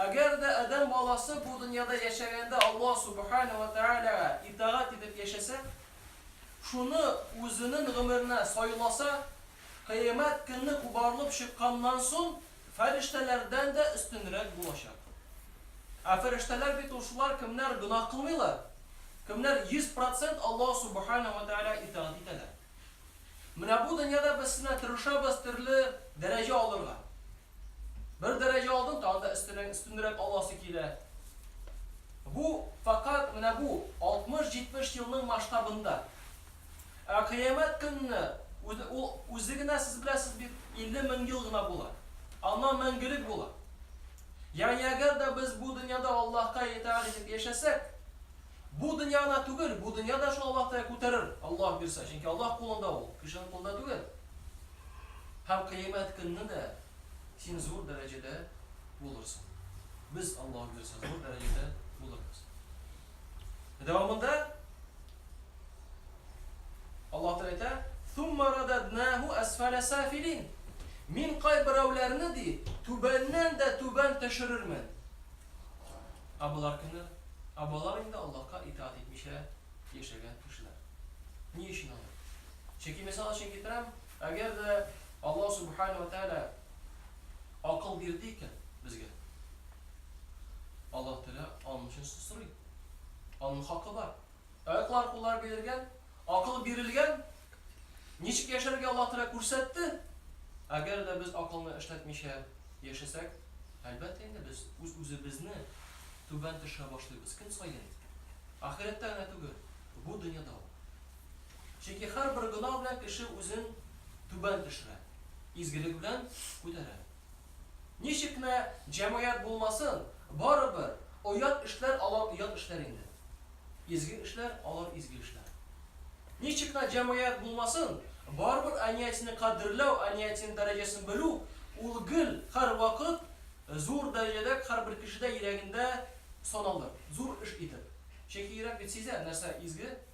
Әгәр дә адәм баласы бу дөньяда яшәгәндә Аллаһ Сүбхәнәһү вә Тәгаләгә итагать итеп яшәсә, шуны үзенен гомеренә сайласа, Кыямәт көнне кубарылып чыкканнан сон, фәрештәләрдән дә өстенрәк булачак. Ә фәрештәләр бит ул шулар, кемнәр гөнаһ кылмыйлар, кемнәр йөз процент Аллаһ Сүбхәнәһү вә Тәгаләгә итагать итәләр. Менә бу дөньяда без сенә тырышабыз төрле дәрәҗә алырга. Бер дәрәҗә алдын тагы да өстенә өстенрәк аласы килә. Бу фәкать менә бу 60-70 елның масштабында. Ә Кыямәт көнне үзе ул үзе генә сез беләсез бит 50 мең ел гына була. Аннан мәңгелек була. Ягъни әгәр дә без бу дөньяда Аллаһка итагать итеп яшәсәк, бу дөнья гына түгел, бу дөнья да шул Аллаһ Тәгалә күтәрер, Аллаһ бирсә, чөнки Аллаһ кулында ул, кешенең кулында түгел. Һәм Кыямәт көнне дә син зур дәрәҗәдә булырсың. Без, Аллаһу бирсә, зур дәрәҗәдә булырбыз. Дәвамында Аллаһ Тәгалә әйтә, "Сумма рададнаху асфала сафилин". Мин кайберәүләрне ди, түбәннән дә түбән төшерермен. Ә болар кемнәр? Ә болар инде Аллаһка итаат итмичә яшәгән кешеләр. Ни өчен алар? Чөнки, мисал өчен китерәм, әгәр дә Аллаһ Субхана ва Тәгалә акыл бирде икән безгә, Аллаһ Тәгалә аның өчен сорый. Аның хакы бар. Аяклар, куллар бирелгән, акыл бирелгән. Ничек яшәргә Аллаһ Тәгалә күрсәтте. Әгәр дә без акылны эшләтмичә яшәсәк, әлбәттә инде без үз-үзебезне түбән төшерә башлыйбыз көн саен. Ахирәттә генә түгел, бу дөньяда ук. Чөнки һәрбер гөнаһ белән кеше үзен түбән төшерә, изгелек белән күтәрә. Ничек кенә җәмгыять булмасын, барыбер, оят эшләр алар оят эшләр инде. Изге эшләр алар изге эшләр. Ничек кенә җәмгыять булмасын, барыбер аниятине кадерләү, аниятинең дәрәҗәсен белү, ул гел, һәрвакыт зур дәрәҗәдә һәрбер кешедә йөрәгендә саналыр, зур эш итеп. Чөнки йөрәк бит сизә, нәрсә изге.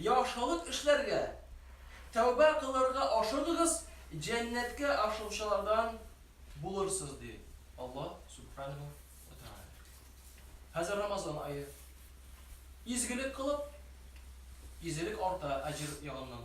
Яхшылык эшләргә, тәүбә кылырга ашыгыгыз, җәннәткә ашыгучылардан булырсыз, ди Аллаһ Сүбхәнәһү вә Тәгалә. Хәзер Рамазан ае. Изгелек кылып, изелек арта, әҗер ягыннан.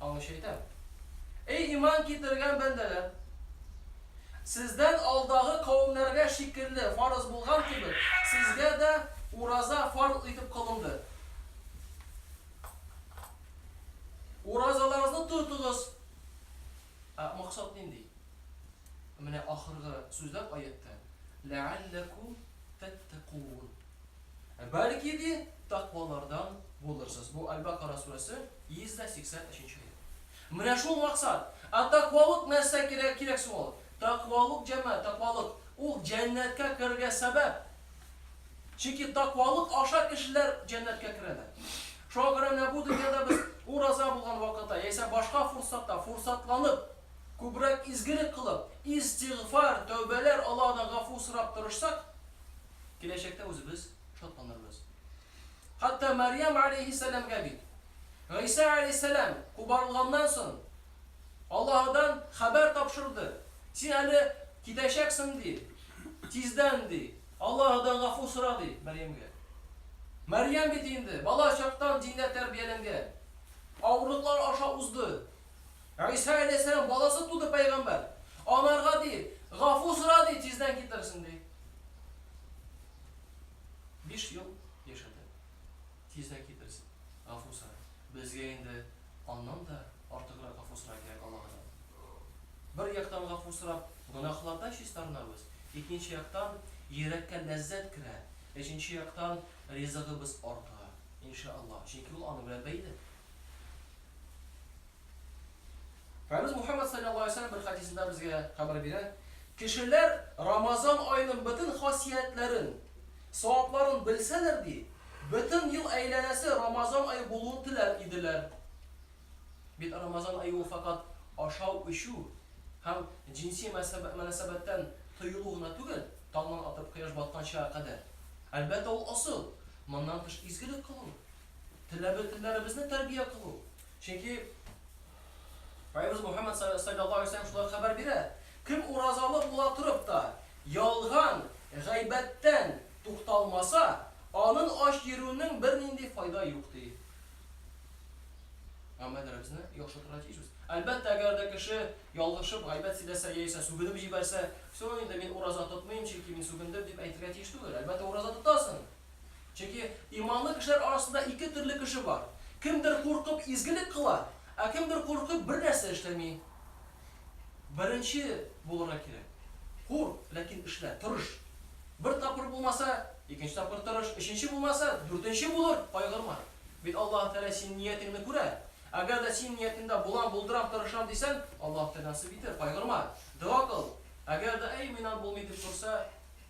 Алучы әйтә. Эй иман китергән бәндәләр! Сездән алдагы кавемнәргә шикелле фарыз булган кебек, сезгә дә ураза фарз итеп кылынды. Уразаларыгызны тотыгыз. Ә максат нинди? Менә ахыргы сүзләр аятьтә, Ләәлләкүм тәттәкүун. Ә бәлки, ди, тәкъвалардан булырсыз. Бу Әл-Бакара сүрәсе, 183 нче аять. Менә шул максат. Ә тәкъвалык нәрсә кирәк, кирәк соң ул? Тәкъвалык, җәмәгать, тәкъвалык, ул җәннәткә керергә сәбәп. Чөнки тәкъвалык аша кешеләр җәннәткә керәләр. Шуңа күрә менә бу дөньяда без ураза булган вакытта яисә башка форсатта форсатланып, күбрәк изгелек кылып, истигъфар, тәүбәләр, Аллаһыдан гафу сорап тырышсак, Киләчәктә үзебез шатланырбыз. Хәтта Мәрьям алейһиссәламгә бит Гыйса алейһиссәлам кубарылганнан соң Аллаһыдан хәбәр тапшырды. Син әле китәчәксең, ди. Тиздән, ди. Аллаһыдан гафу сора, ди Мәрьямгә. Мәрьям бит инде бала чактан диндә тәрбияләнгән. Авырлыклар аша узды. Гыйса галәйһиссәлам баласы туды пәйгамбәр. Анарга ди, Гафу сора ди, тиздән китерсен ди. Биш ел яшәде. Тиздән китерсен. Гафу сора. Безгә инде аннан да артыграк гафу сора кирәк Аллаһыдан. Бер яктан гафу сорап, гөнаһлардан чистарынабыз, икенче яктан йөрәккә ләззәт керә, өченче яктан ризыгыбыз арта, иншаАллаһ, чөнки ул аны белән бәйле. Хәбиз Мухәммәд салләллаһу алейһи ва сәлләм бер хадисында безгә хәбәр бирә, кешеләр Рамазан аеның бөтен хасиятләрен, савапларын белсәләр ди, бөтен ел әйләнәсе Рамазан ае булуын теләр иделәр. Бит Рамазан ае ул факат ашау-эчү һәм җинси мөнәсәбәттән тыелу гына түгел, таңнан атып кояш батканчага кадәр. Әлбәттә, ул ысул, моннан тыш изгелек кылу, теләбе-телләребезне тәрбия кылу. Чөнки Пайгамбарыбыз Мухаммад саллаллаһу алейһи ва шулай хәбәр бирә. Кем уразалы була торып та, ялган, гайбәттән тукталмаса, анын ач йөрүнең бернинди файда юк ди. Гамәлләребезне яхшыртырга тиешбез. Әлбәттә, әгәр дә кеше ялгышып гайбәт сөйләсә яисә сүгенеп җибәрсә, все, инде мин ураза тотмыйм, чөнки мин сүгендем дип әйтергә тиеш түгел. Әлбәттә, ураза тотасың. Чөнки иманлы кешеләр арасында ике төрле кеше бар. Кемдер куркып изгелек кыла, ә кемдер куркып бер нәрсә эшләми. Беренче булырга кирәк. Курк, ләкин эшлә, тырыш. Бер тапкыр булмаса, икенче тапкыр тырыш, өченче булмаса, дүртенче булыр, кайгырма. Бит Аллаһ Тәгалә синең ниятеңне күрә. Әгәр дә синең ниятеңдә булам, булдырам, тырышам дисәң, Аллаһ Тәгалә насыйп итер, кайгырма. Дога кыл. Әгәр дә, әй, миннан булмый дип торса,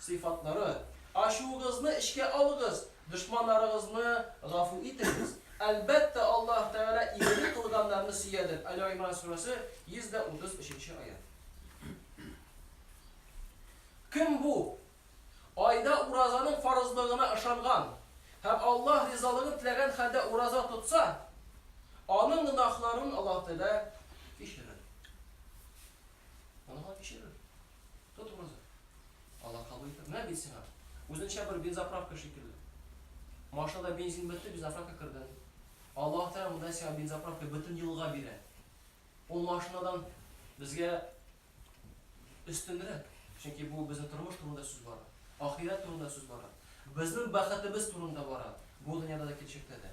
Сыйфатлары, Ачуыгызны эчкә алыгыз, дошманнарыгызны гафу итегез. Әлбәттә, Аллаһ Тәгалә игелек кылганнарны сөядер, Әле-Гыймран сүрәсе, 133 нче аять. Кем бу айда уразаның фарызлыгына ышанган һәм Аллаһ ризалыгын теләгән хәлдә ураза тотса, аның гөнаһларын Аллаһ Тәгалә кичерер. Гөнаһларын кичерер. Тот ураза. Алла кабул итер. Менә бит сиңа. Үзенчә бер бензоправка шикелле. Машинада бензин бетте, бензоправка кердең. Аллаһ Тәгалә монда сиңа бензоправка бөтен елга бирә. Ул машинадан безгә өстенрәк. Чөнки бу безнең тормыш турында сүз бара. Ахирәт турында сүз бара. Безнең бәхетебез турында бара. Бу дөньяда да киләчәктә дә.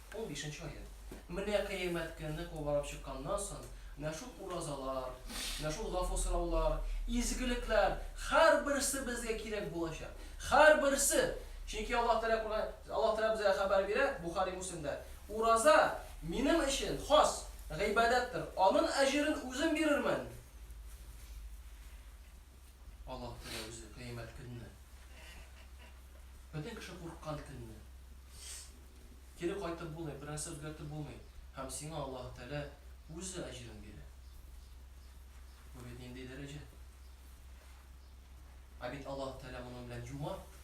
Унбишенче аять. Менә Кыямәт көне кубарып чыкканнан соң, менә шул уразалар, менә шул гафу сораулар, изгелекләр, һәрберсе безгә кирәк булачак. Һәрберсе! Чөнки Аллаһ Тәгалә Коръән, Аллаһ Тәгалә безгә хәбәр бирә, Бухари, Муслимда, Ураза минем өчен хас гыйбадәттер, анын әҗерен үзем бирермен. Аллаһ Тәгалә үзе кыямәт көнне. Бөтен кеше курккан көнне. Кире кайтып булмый, бернәрсә үзгәртеп булмый. Һәм сиңа Аллаһ Тәгалә үзе әҗерен бирә. Бу бит нинди дәрәҗә? Ә бит Аллаһ Тәгалә моның белән юмарт.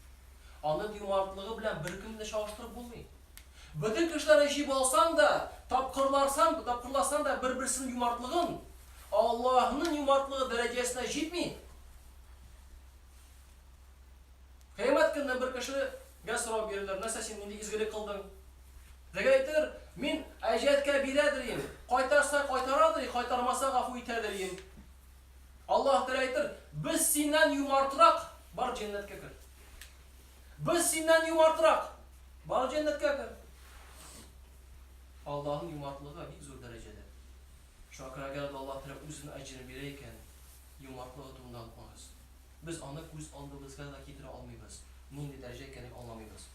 Аның юмартлыгы белән беркемне чагыштырып булмый. Бөтен кешеләрне җыеп алсаң да, тапкырларсаң, тапкырласаң да бер-берсенең юмартлыгын, Аллаһның юмартлыгы дәрәҗәсенә җитми. Кыямәт көнне бер кешегә сорау бирелер, нәрсә син нинди изгелек кылдың? Теге әйтер, мин әҗәткә бирәдер ин, кайтарса кайтарадыр, кайтармаса гафу итәдер ин. Аллаһ Тәгалә әйтер, без синнән юмартрак, бар җәннәткә кер. Без синнән юмартрак! Бар җәннәткә кер! Аллаһның юмартлыгы бик зур дәрәҗәдә. Шуңа күрә әгәр дә Аллаһ Тәгалә үзенең әҗерен бирә икән, юмартлыгы турында онытмагыз. Без аны күз алдыбызга да китерә алмыйбыз, нинди дәрәҗә икәнен аңламыйбыз.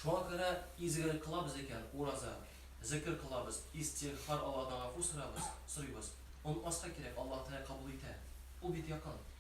Шуңа күрә изгелек кылабыз икән, ураза, зекер кылабыз, истигъфар, Аллаһыдан гафу сорабыз, сорыйбыз. Онытмаска кирәк, Аллаһ Тәгалә кабул итә. Ул бит якын.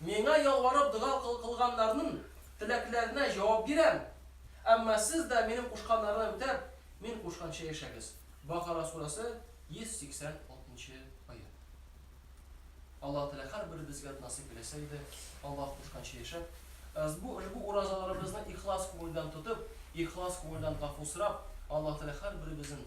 Миңа ялварып дога кылганнарнын теләкләренә җавап бирәм. Әмма сез дә минем кушканнарны үтәп, мин кушканча яшәгез. Бакара сүрәсе, 186 нчы аять. Аллаһ Тәгалә һәрберебезгә дә насыйп иләсә иде, Аллаһ кушканча яшәп, ызбу ошбу уразаларыбызны ихлас күңелдән тотып, ихлас күңелдән гафу сорап, Аллаһ Тәгалә һәрберебезнен